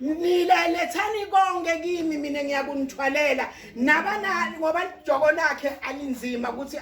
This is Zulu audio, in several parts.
nila lethani konke kimi mina ngiyakunithwalela nabanani ngoba ijoko lakhe alinzima ukuthi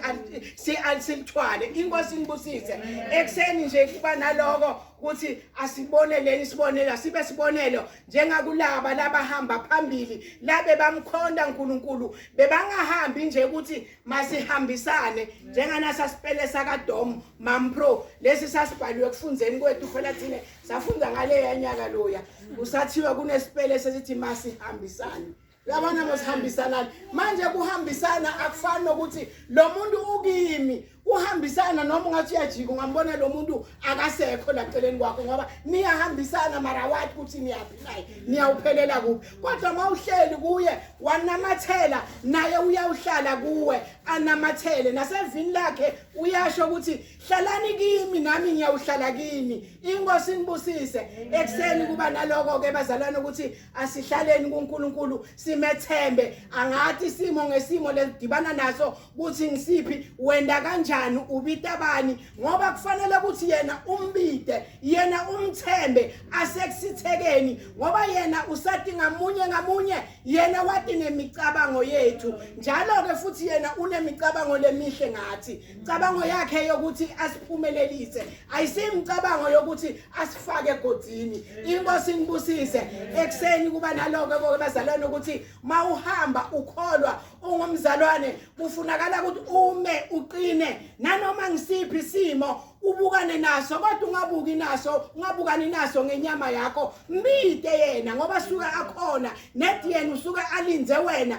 silithwale inkosi inibusise ekuseni nje kuba naloko ukuthi asiboneleni isibonelo asibe sibonelo njengakulaba labahamba phambili labe bamkhonda uNkulunkulu bebangahambi nje ukuthi masihambisane njenganasa sipele sakaDom Mampro lesi sasibhaliwe kufundeni kwethu phela thina safunda ngaleya nyaka loya kusathiwa kunesipele sesithi masihambisane yabona mosihambisanani manje kuhambisana akufani nokuthi lo muntu ukimi uhambisana noma ungathi uyajika ungambona lo muntu akasekho la celeni kwakho ngoba niyahambisana mara wathi ukuthi niyaphi naye niyawuphelela kuphi kodwa uma uhleli kuye wanamathela naye uyawuhlala kuwe anamathele nasevini lakhe uyasho ukuthi hlalani kimi nami ngiyawuhlala kini inkosi inibusise ekuseni kuba naloko ke bazalwane ukuthi asihlaleni kuNkulunkulu simethembe angathi simo ngesimo ledibana naso kuthi ngisiphi wenda kanjani ubita bani ngoba kufanele ukuthi yena umbide yena umthembe asekusithekeni ngoba yena usati ngamunye ngamunye yena wati nemicabango yethu njalo ke futhi yena unemicabango lemihle ngathi Cabango yakhe yokuthi asiphumelelise ayisimcabango yokuthi asifake egodini. Inkosi inibusise ekseni kuba naloko konke bazalwane ukuthi mawuhamba ukholwa ungumzalwane kufunakala ukuthi ume uqine nanoma ngisiphi simo ubukane naso kodwa ungabuki naso ungabukani naso ngenyama yakho mbide yena ngoba suka akhona nedi yena usuka alinze wena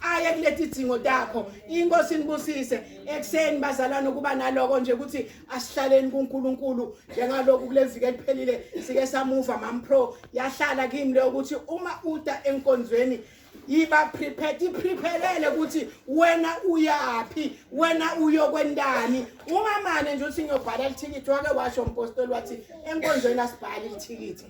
aye kuleti dzingo takho inkosi nibusise ekuseni bazalwane ukuba naloko nje ukuthi asihlaleni kuNkulunkulu njengalokhu kuleviki eliphelile sike samuva mampro yahlala kimi le ukuthi uma uta enkonzweni yiba prepared iprephelele ukuthi wena uyaphi wena uyokwendani ungamane nje uthi ngiyobhala lithikithi wake washo umpostoli wathi enkonzweni asibhali lithikithi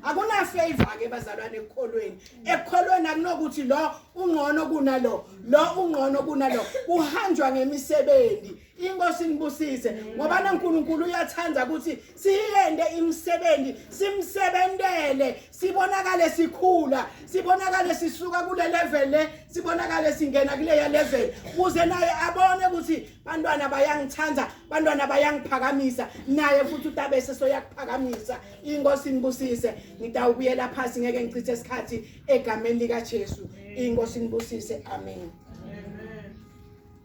akunafavor-ke bazalwane ekukholweni ekholweni akunokuthi lo ungcono kunalo lo ungcono kunalo kuhanjwa ngemisebenzi inkosi nibusise ngoba naNkulunkulu uyathanda ukuthi siyende imisebenzi simsebentele sibonakale sikhula sibonakale sisuka kule level le sibonakale singena kuleya level kuze naye abone ukuthi bantwana bayangithanda bantwana bayangiphakamisa naye futhi utabese soyakuphakamisa inkosi nibusise ngitawubuyela phasi ngeke ngichithe isikhathi egameni likaJesu inkosi nibusise amen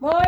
moya